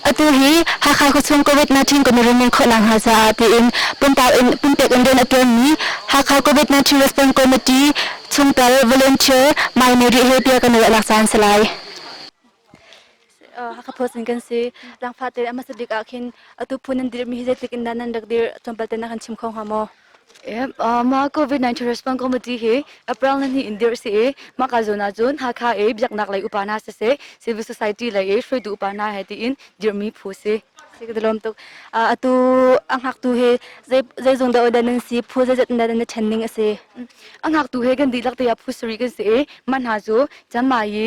Atu hi Hakha khuachung COVID-19 kawmirin in khawhnak hna caah tiin puntau in pumpek in rian a ṭuanmi Hakha COVID-19 Response Committee chungtel volunteer Mai Mary he bia kan ruah nak caan si lai. Hakha Phawtsin kan si. Langfah te a hmasa bik ah khin atu phun nan dirmi hi zeitik in dah nan rak dir tlawmpal te na kan chim kho hnga maw? Mah COVID-19 response committee hi April ni hnih in dir si i mah ka zawn ahcun Hakha i biaknak lei upa hna siseh civil society lei i hruaitu upa hna he tiin dirmi phu si. Si ka lawm tuk. Atu a ngaktu hi zei zong dah odan nan si phu zeizat in dah nan ṭhen ning a si. A ngaktu he kan dihlak te ah phu sarih kan si i man hna cu Chiang Mai i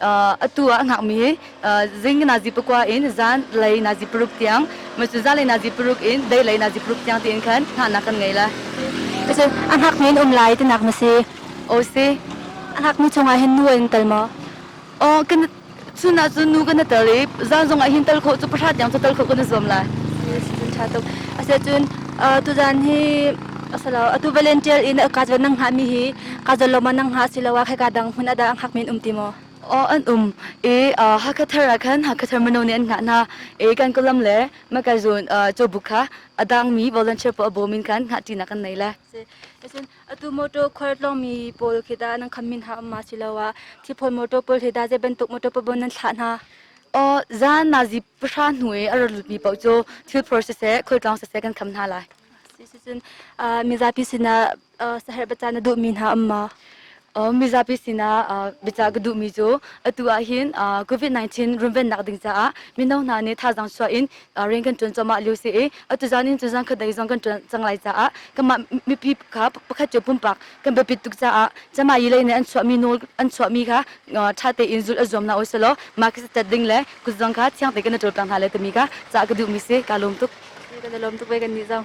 atu ah a hngakmi zing nazi pakua in zan lei nazi paruk tiang macu zan lei nazi paruk in dei lei nazi paruk tiang tiin khan hngahnak kan ngei la Ese a hngakmi in um lai tinak na si o si a hngakmi chungah hin nu in tel maw o kan cuna cu nu kan tel i zan zong ah hin tal khawh cu pahra tiang cu tal khawh kan zuam la tha tuk ase cun tuzan hi asalo atu volunteer in akat van nang ha mi hi ka zalom ah nang ha siloah khika dang hmun ada ang hak min um ti maw aw an um i hakha thar ah khan hakha thar mano nih an ngah hna i kan kolam le makai zun cho buk kha adang mi volunteer po abo min khan ngah ti na kan nei le esin atu motor khwar long mi pol khida nang kham min ha ma silowa thi phon motor pol khida je bentuk motor po bon nan thla na o zan na ji pha nui ar mi po cho thil process e khol tlang se kan kham na lai sisin mizapi sina saherh baca na duhmi hna um maw? mizapi sinah biacah ka duhmi cu atu ahhin COVID-19 runvennak ding caah mino hna nih thazaang chuah in rian kan ṭuan cuahmah lio si i atu zan in cuzan khatlei zong kan ṭuan cang lai caah kanmah mipi kha pakhat cu pumpak kan biapit tuk caah camai lei nih an chuahmi nawl an chuahmi kha ṭha tein zulh a zuam hna usihlaw mah ka si tat ding le kut zong kha thiang tein kan i ṭawlpek hna lai timi kha cah ka duhmi si kaa lawm tuk. Kan i lawm tuk ve kan nih zong.